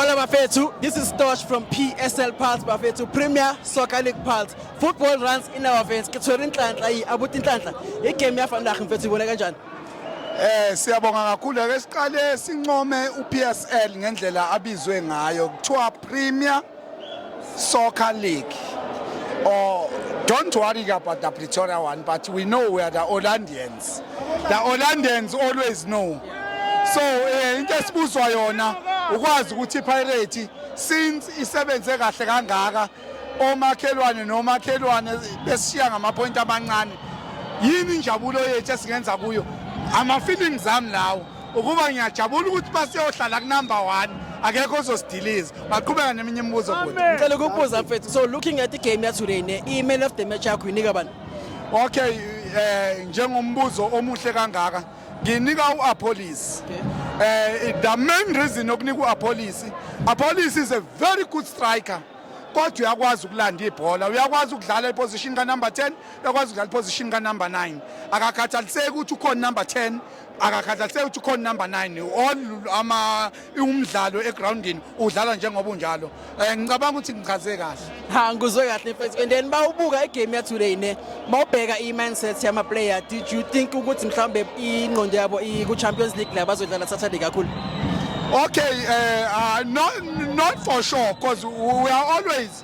Hola bafethu, this is Tosh from PSL Pulse bafethu, Premier Soccer League Pulse. Football runs in our veins. Ke tshwere inhlanhla yi abuti inhlanhla. I game ya vandag mfethu ibona kanjani? Eh siyabonga kakhulu ke siqale sincome uPSL ngendlela abizwe ngayo kuthiwa Premier Soccer League. Oh don't worry about the Pretoria one but we know we are the Orlandians. The Orlandans always know. So eh, into esibuzwa yona ukwazi ukuthi iPirate since isebenze kahle kangaka omakhelwane nomakhelwane besishiya ngamapointi amancane yini injabulo yethu esingenza kuyo ama-feelings ami lawo ukuba ngiyajabula ukuthi basiyohlala kunumber one akekho ozosidiliza baqhubeka neminye imibuzo ngicela ukubuza mfethu so looking at igame yatoday ne i-man of the match yakho yinika bani Okay eh njengombuzo omuhle kangaka nginika uApolice eh the main reason yokunika uApolice Apolice is a very good striker kodwa uyakwazi ukulanda ibhola uyakwazi ukudlala iposition ka number 10 uyakwazi ukudlala iposition ka number 9 akakhathaliseki ukuthi ukhona number 10 akakhathaliseki ukuthi ukhona number 9 all ama umdlalo egroundini udlala njengoba unjalo eh, ngicabanga ukuthi ngichaze kahle ha ngizwe kahle mfethu and then bawubuka igame ya today ne mawubheka i mindset yama player did you think ukuthi mhlawumbe ingqondo yabo iku Champions League la bazodlala Saturday kakhulu okay uh, uh, not, not for sure because we are always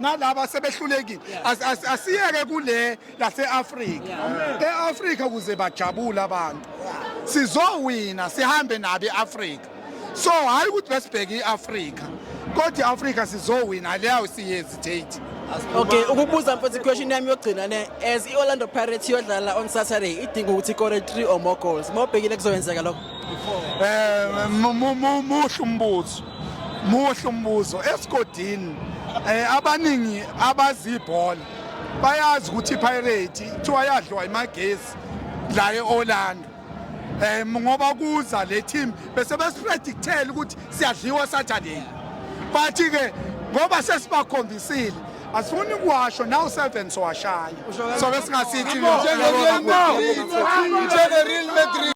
nalaba sebehlulekile asiyeke kule lase-afrika e-afrika kuze bajabule abantu sizowina sihambe nabi e-afrika so hhayi ukuthi besibheke i-afrika kodwa i-afrika sizowina leyawo siyehesitate okay ukubuza mfethu iquestion yami yokugcina ne as i-orlando pirates iyodlala on saturday idinga ukuthi ikore three or more goals uma ubhekile kuzoyenzeka lokho um muhle umbuzo muhle umbuzo esigodini eh abaningi abazi ibhola bayazi ukuthi iPirate kuthiwa yadliwa imagesi la eOrlando eh ngoba kuza le team bese besipredictela ukuthi siyadliwa Saturday bathi ke ngoba sesibakhombisile asifuni kuwasho naw sevens washaya so ke singasithi njengereal madrid